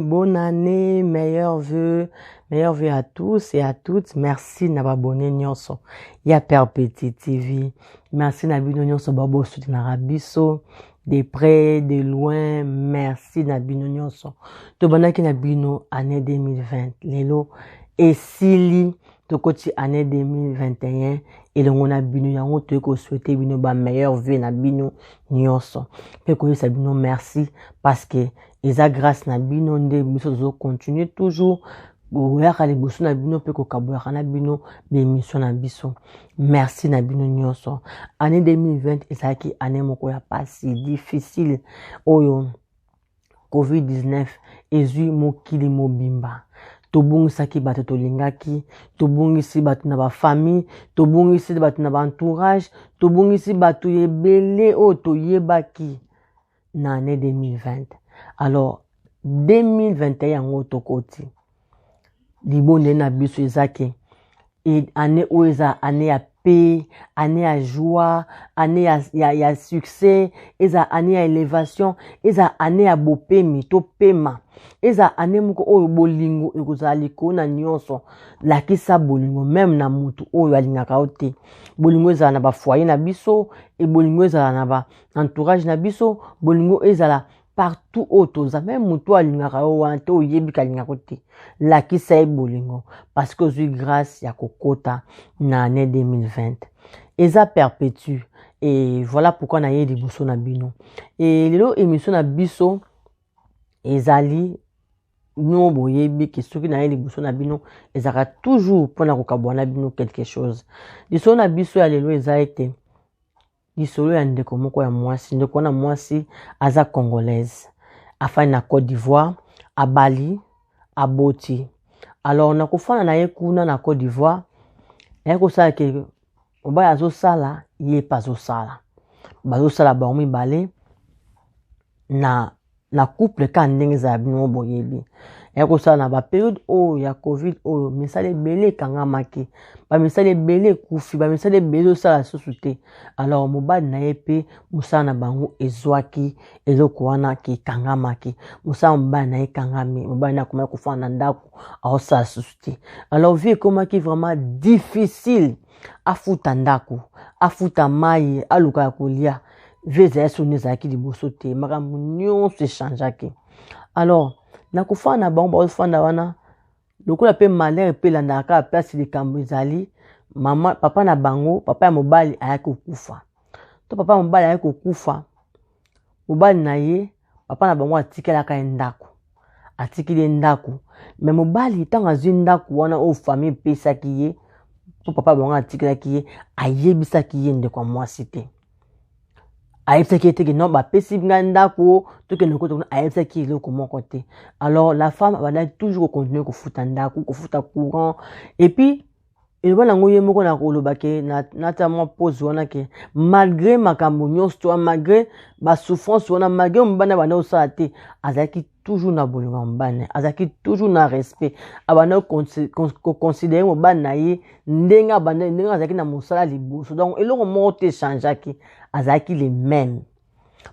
Bonne année, meilleurs vœux, meilleurs vœux à tous et à toutes. Merci na babone nyonso ya Perpétuité TV. Merci na bino nyonso babo soutenaka biso. de près de loin merci na bino nyonso tobandaki na bino année 2020 lelo esili tokoti année 2021 elongo na bino yango toyei koswete bino bameilleure vie na bino nyonso mpe koyebisa bino merci parce que eza grâce na bino nde biso tozocontinue toujours boyaka liboso na bino mpe kokabolaka na bino bemission na biso merci na bino nyonso année 2020 ezalaki année moko ya pasi difficile oyo covid-19 ezwi mokili mobimba tobungisaki bato tolingaki tobungisi bato na bafamille tobungisi bato na baentourage tobungisi bato ebele oyo toyebaki na année 2020 alors 2021 yango tokoti libonde na biso eza ke e, année oyo eza année ya paix année ya joie année ya, ya, ya succès eza année ya élévation eza année ya bopemi topema eza année moko oyo bolingo ekozala likolo na nyonso lakisa bolingo meme na motu oyo alingaka yo te bolingo ezala na bafoye na biso e bolingo ezala na, ba, entourage na biso bolingo ezala partout oyo toza meme moto oyo alingaka yo wana te oyebi kalingaka yo te lakisa ye bolingo parce que ozwi grâce ya kokota na année 2020 eza perpétue e voilà pourquoi naye liboso na bino e lelo émission na biso ezali bino boyebi ke soki naye liboso na bino ezalaka toujours mpona kokabwana bino quelque chose lisolo na biso ya lelo eza ete lisolo ya ndeko moko ya mwasi ndeko wana mwasi aza congolaise afandi na côte d'ivoire abali aboti alors na kofanda na ye kuna na côte d'ivoire naye kosala ke mobali azosala ye mpe azosala bazosala bango mibale na na couple kaka ndenge eza ya bino boyebi ya kosala na baperiode oyo ya covid oyo misala ebele ekangamaki bamisala ebele ekufi bamisala ebele osala lisusu te alors mobali na ye mpe mosala na bango ezwaki eloko wana kekangamaki mosala mobali na ye ekangami mobali na akomaki kofana na ndako aosala lisusu te alors vie ekomaki vraiment difficile afuta ndako afuta mai aluka ya kolia vie ezali soni ezalaki liboso te makambo nyonso echangeaki alors na kofanda na bango baofanda wana lokola mpe malheur mpe elandaka kaka place likambo ezali mama papa na bango papa ya mobali ayaki kokufa to papa ya mobali ayaki kokufa mobali na ye papa na bango atikelaka ye ndako atikili ye ndako me mobali ntango azwi ndako wana oyo famille epesaki ye mpo papa na bango atikelaki ye ayebisaki ye ndeko ya mwasi te ayebisaki ye teke non bapesi ngai ndako tokende kota kuna ayebisaki ye eloko moko te alors la femme abandaki toujours kocontinue kofuta ndako kofuta courant epuis eloba nango ye moko na koloba ke nata mwa pose wana ke malgré makambo nyonso to malgré basouffrance wana malgré mobali abanda kosala te azalaki toujours na bolingo ya mobali na ye azalaki toujours na respect abanda koconsidere mobali na ye ndenge abanda ndenge azalaki na mosala liboso donc eloko moko te echangeaki azalaki le même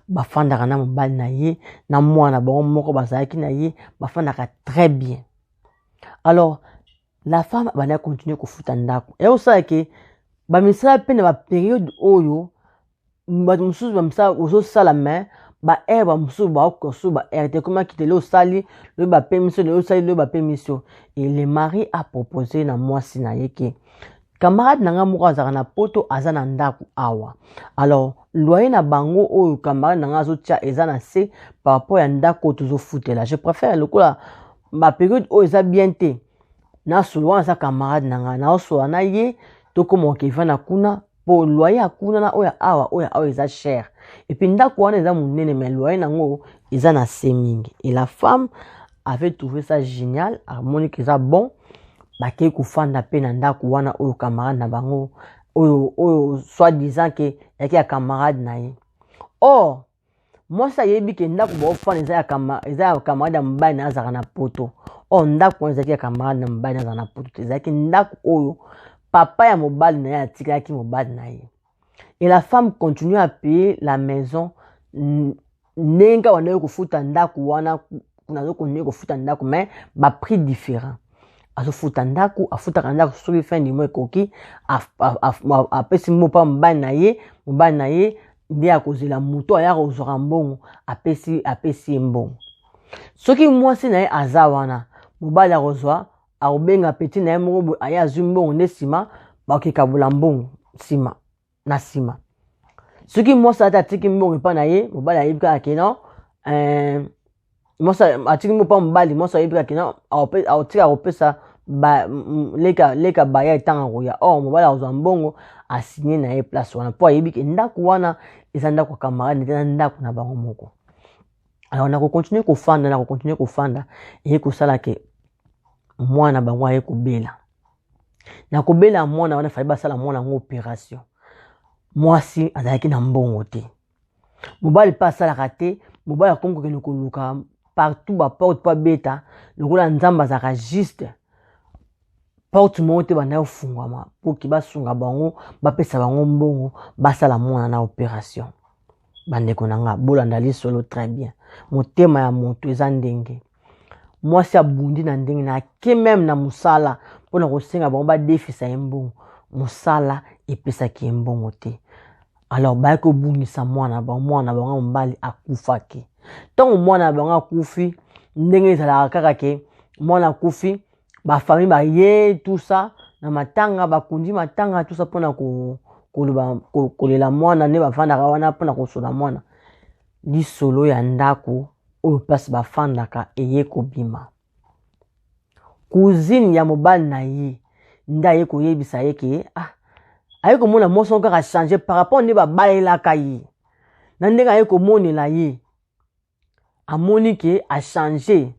bafandaka na mobali na ye na mwana bango moko bazalaki na ye bafandaka très bien alors la femme abanda continue kofuta ndako ya kosala ke bamisala mpe na baperiode oyo bato mosusu bamisala ozosala mai baheure bamosusu baokosu baheure te ekomaki te lelo osali loye bapemisi lelo osali loye bapemisi yo e le mari apropose na mwasi na ye ke camarade na ngai moko azalaka na poto aza na ndako awa alors loyer na bango oyo camarade na ngai azotia eza na se par rapport ya ndako oyo tozofutela je préfère lokola baperiode oyo eza bien te nasolo wana aza camarade na ngai naosola na ye tokoma okevana kuna mpo loyer ya kuna na oyo awa oyo awa eza cher epuis ndako wana eza monene mai loyer na yango eza na se mingi et la femme avait trouvé ça génial amoni ke eza bon bakei kofanda mpe na ndako wana oyo camarade na bango oyo oyo soit disant ke yaki ya camarade na ye or mwasi ayebi ke ndako baofanda eza ya camarade ya mobali na azalaka na poto or ndako wana ezalaki ya camarade na mobali na azalaka na poto te ezalaki ndako oyo papa ya mobali na ye atikelaki mobali na ye et la femme continue à payer la maison ndenge wana yo kofuta ndako wana nazo continue kofuta ndako mais ba prix différent azofuta ndako afutaka ndako soki fin du mois ekoki apesi mopa mobali na ye mobali na ye nde akozela moto aya kozwaka mbongo apesi apesi ye mbongo soki mwasi na ye aza wana mobali akozwa akobenga petit na ye moko boye aye azwi mbongo nde nsima bakikabola mbongo nsima na nsima soki mwasi ata atiki mbongo epai na ye mobali ayebi kaka ke non eh, mwasi atiki mbongo mpa mobali mwasi ayebi kaka ke non aotika kopesa ba, m, leka, leka baya etanga koya or oh, mobali akozwa mbongo asigne na ye place wana mpo ayebi ke ndako wana eza ndako ya camarade nde na ndako na bango moko alors na kokontinue kofanda na kokontinue kofanda eye kosala ke mwana bango aye kobela na kobela mwana wana fali basala mwana yango operation mwasi azalaki na mbongo te mobali mpe asalaka te mobali akomi kokende koluka partout baporte mpo abeta lokola nzambe azalaka juste porte moko te banda kofungwama mpo ke basunga bango bapesa bango mbongo basala mwana na operation bandeko na nga bolanda lisolo très bien motema ya moto eza ndenge mwasi abundi na ndenge na ake meme na mosala mpo na kosenga bango badefisa ye mbongo mosala epesaki ye mbongo te alors baye kobungisa mwana bango mwana bango ya mobali akufaki ntango mwana ya bango akufi ndenge ezalaka kaka ke mwana akufi ba famille ba ye tout ça na matanga bakundi matanga tout ça pona ko koloba kolela mwana nde bafandaka wana pona kosola mwana lisolo ya ndako oyo place bafandaka eye kobima cousine ya mobali na ye nde aye koyebisa ye ke ah, aye komona mwasi yango kaka change par rapport nde babalelaka ye na ndenge aye komonela ye amoni ke achange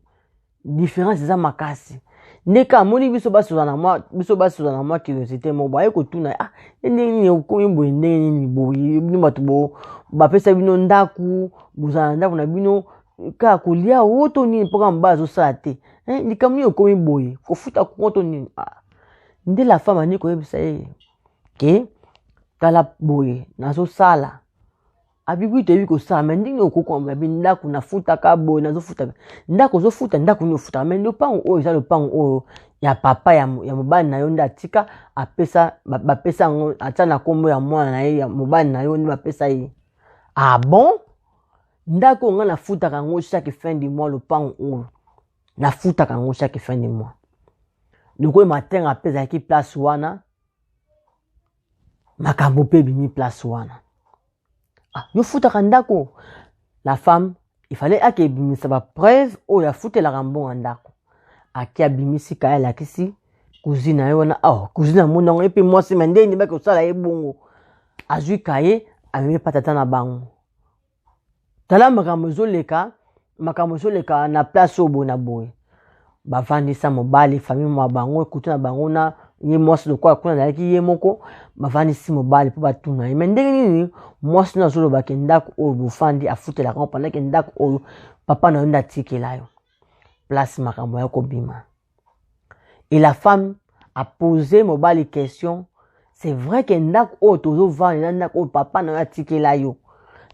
différence eza makasi nde ka amoni biso basozana mwa biso basozana mwa curiosité moko boye kotuna ah ye ndenge nini okomi boye ndenge nini boye bino bato bo bapesa bino ndako bozala na ndako na bino kaka kolia o to nini mpoka mobali azosala te eh, likambo nini okomi boye kofuta kongo to nini ah. nde la femme ani koyebisa ye ke tala boye nazosala abigui toyebi kosala me ndenge okokoma babi ndako nafutaka boye nazofutaka ndako ozofuta ndako nini ofutaka me lopango oyo eza lopango oyo ya papa ya, ya mobali na yo nde atika apesa bapesa yango atia na nkombo ya mwana na ye ya mobali na yo nde bapesa ye ah bon ndako oyo ngai nafutaka yango chaque fin du mois lopango oyo nafutaka yango chaque fin du mois lokola matenga mpe ezalaki place wana makambo mpe ebimi place wana ah, yo futaka ndako la femme ifale ake ebimisa bapreuve oyo afutelaka mbongo ndako ake abimisi kaya alakisi cousine na ye wana oh, cousine amoni yango ye mpe mwasi ma ndenge nibaki kosala ye bongo azwi kaye amemi mpa tata na bango tala makambo ezoleka makambo ezoleka na place oyo boye na boye bavandisa mobali famille mwa bango ekutu na bango na ye mwasi lokola kuna azalaki ye moko bavandisi mobali mpo batuna ye me ndenge nini mwasi no azoloba ke ndako oyo bofandi afutelaka ngo pandake ndako oyo papa na yo nde atikela yo place makambo ya kobima et la femme a posé mobali question c'est vrai que ndako oyo tozovanda eza ndako oyo papa na yo atikela yo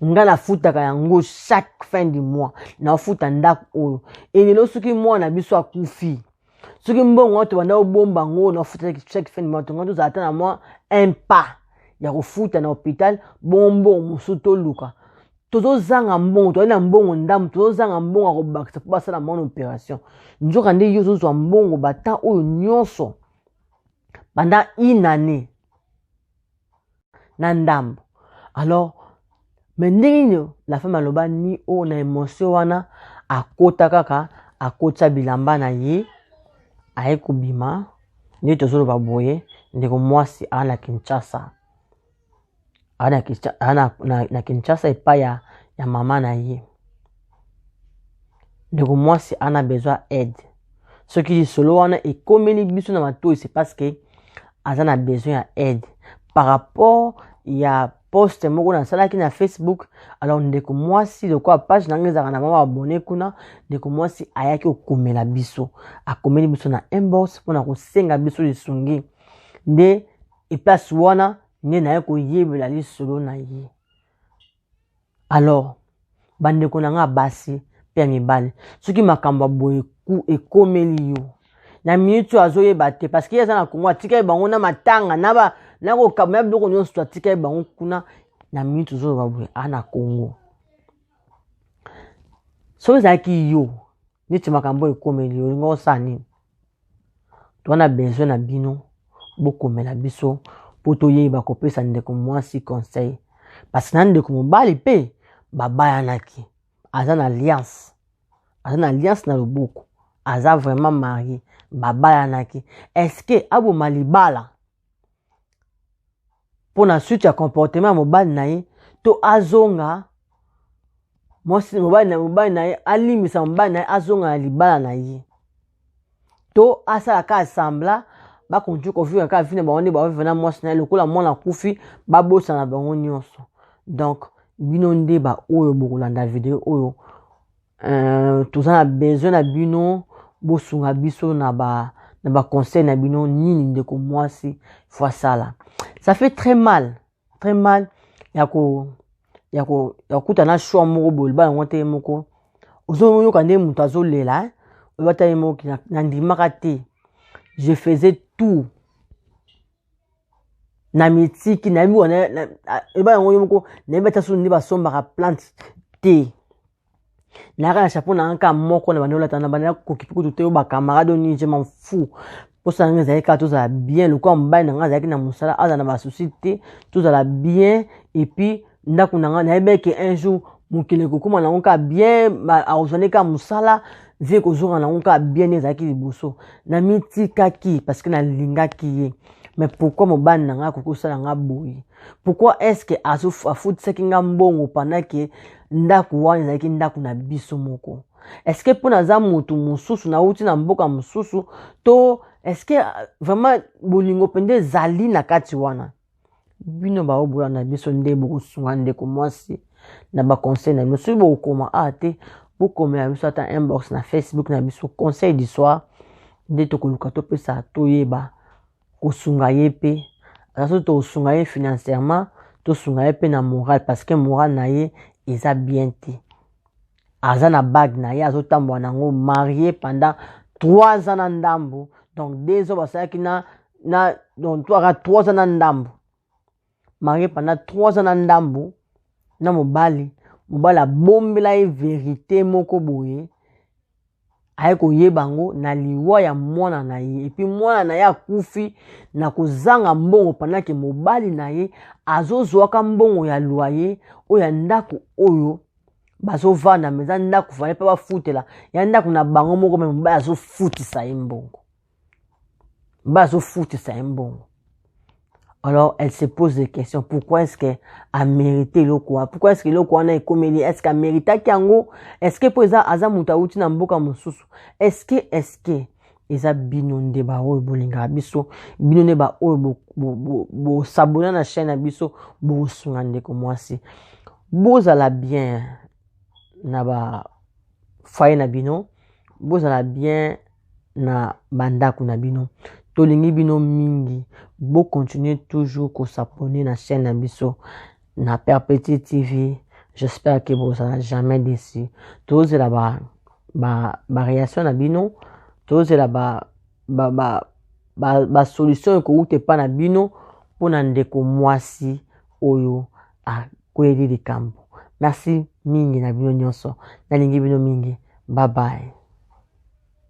nga nafutaka yango chaque fin du mois naofuta ndako oyo elelo soki mwana biso akufi soki mbongo wana tobanda obomba yango oyo naofuta chaque fin du mois tonga tozala ata na mwa un pas ya kofuta na hôpital bongo mbongo mosusu toluka tozozanga mbongo tozali na mbongo ndambo tozozanga mbongo ya kobakisa mpo basala mwana operation nzoka nde yo ozozwa mbongo batan oyo nyonso banda inane na ndambo alors me ndenge nini la femme aloba ni oyo na émotion wana akota kaka akotisa bilamba na ye aye kobima nde tozoloba boye ndeko mwasi aa na kinshasa ana na, na, na kinshasa epai ya, ya mama na ye ndeko mwasi ana besoin aide soki lisolo wana ekomeli biso na matoi se parce que aza na besoin ya aide par rapport ya poste moko nasalaki na facebook alors ndeko mwasi lokola page na ngai ezalaka na mama abone kuna ndeko mwasi ayaki kokomela biso akomeli biso na inbox mpo na kosenga biso lisungi nde eplasi wana nde naye koyebela lisolo na ye alors bandeko na ngai basi mpe ya mibali soki makambo ya boye ekomeli yo na minute oyo azoyeba te parce que ye aza na kongo atikali bango na matanga na ba na kokaba na biloko nyonso atikali bango kuna na minute ozoloba boye a na kongo soki ezalaki yo neti makambo oyo ekomeli yo olingi osala nini toana besoin na bino bokomela biso mpo toyeba kopesa ndeko mwasi conseil parce na ndeko mobali mpe babayanaki aza na alliance aza na alliance na loboko aza vraiment marie babayanaki eske aboma libala mpo na suite ya comportement ya mobali na ye to azonga mwasi mobali na mobali na ye alimbisa mobali na ye azonga na libala na ye to asala ka asambla bakontinue kovivre kaka vi na bango nde baovive na mwasi na ye lokola mwana akufi babosana bango nyonso donc bino nde baoyo bokolanda video oyo Euh, toza na besoin na bino bosunga biso na ba na ba conseil na bino nini ndeko mwasi faut asala ça fait très mal très mal ya ko ya ko ya kokuta na choix moko boye loba yango te ye moko ozoyoka nde moto azolela eh? oloba ta ye moko kina nandimaka te je faisais tout na mitiki nayebi wana eba yango yo moko nayebi ata soni nde basombaka plante te nayaka na chapeau na yanka moko na banda olata na banda kokipe kutu te yo bacamarade oyo nini je m'en fou mposa na ngai ezalaki kaka tozala bien lokola mobali na ngai azalaki na mosala azala na basusi te tozala bien epuis ndako na ngai nayebaki ke un jour mokili ekokóma nango kaka bien akozwa nde kaka mosala vie ekozonga nango kaka bien nde ezalaki liboso namitikaki parce que nalingaki ye mais pourquoi mobali na ngai akoki kosala ngai boye pourquoi est ce que afutisaki ngai mbongo pendant ke ndako wana ezalaki ndako na biso moko eske mpo naza motu mosusu nauti na mboka mosusu to eske euh, vraiment bolingo mpenza ezali na kati wana bino baobola na biso nde bokosunga ndeko mwasi na baconseil na bino soki bokokoma a ah, te bokomela biso ata inbox na facebook na biso conseil du soir nde tokoluka topesa toyeba kosunga ye mpe aza soki tokosunga ye financièrement tosunga ye mpe na morale parce que morale na ye eza bien te aza na bague na ye azotambola na yango marie pendant trois ans na ndambu donc deux ans basalaki na na donc toaka trois ans na ndambu marie pendant 3 ans na ndambu na mobali mobali abombela ye verite moko boye aye koyeba yango na liwa ya mwana na ye epuis mwana na ye akufi na kozanga mbongo pandake mobali na ye azozwaka mbongo ya loye oyo ya ndako oyo bazovanda me eza ndako fale mpe bafutela ya ndako na bango moko me mobali azofutisa ye mbongo bazofutisa ye mbongo alors elle se pose des questions pourquoi est-ce que amérite eloko wana pourquoi est-ce que eloko wana ekomeli est-ce que ameritaki yango est-ce que mpo eza aza moto awuti na mboka mosusu est-ce que est-ce que eza bino nde baoyo bolingaka biso bino nde baoyo bosabona bo, bo, bo na chaîne na biso bosunga ndeko mwasi bozala bien na ba foyer na bino bozala bien na bandako na bino tolingi bino mingi bocontinue toujours kosapone na chaîne na biso na perpétue tv j'espère que bozala jamais déçu tozela ba, ba, ba réaction na bino tozela ba, ba, ba, ba, ba solution ekowuta epa na bino mpo na ndeko mwasi oyo a, kweli likambo merci mingi na bino nyonso nalingi bino mingi bye bye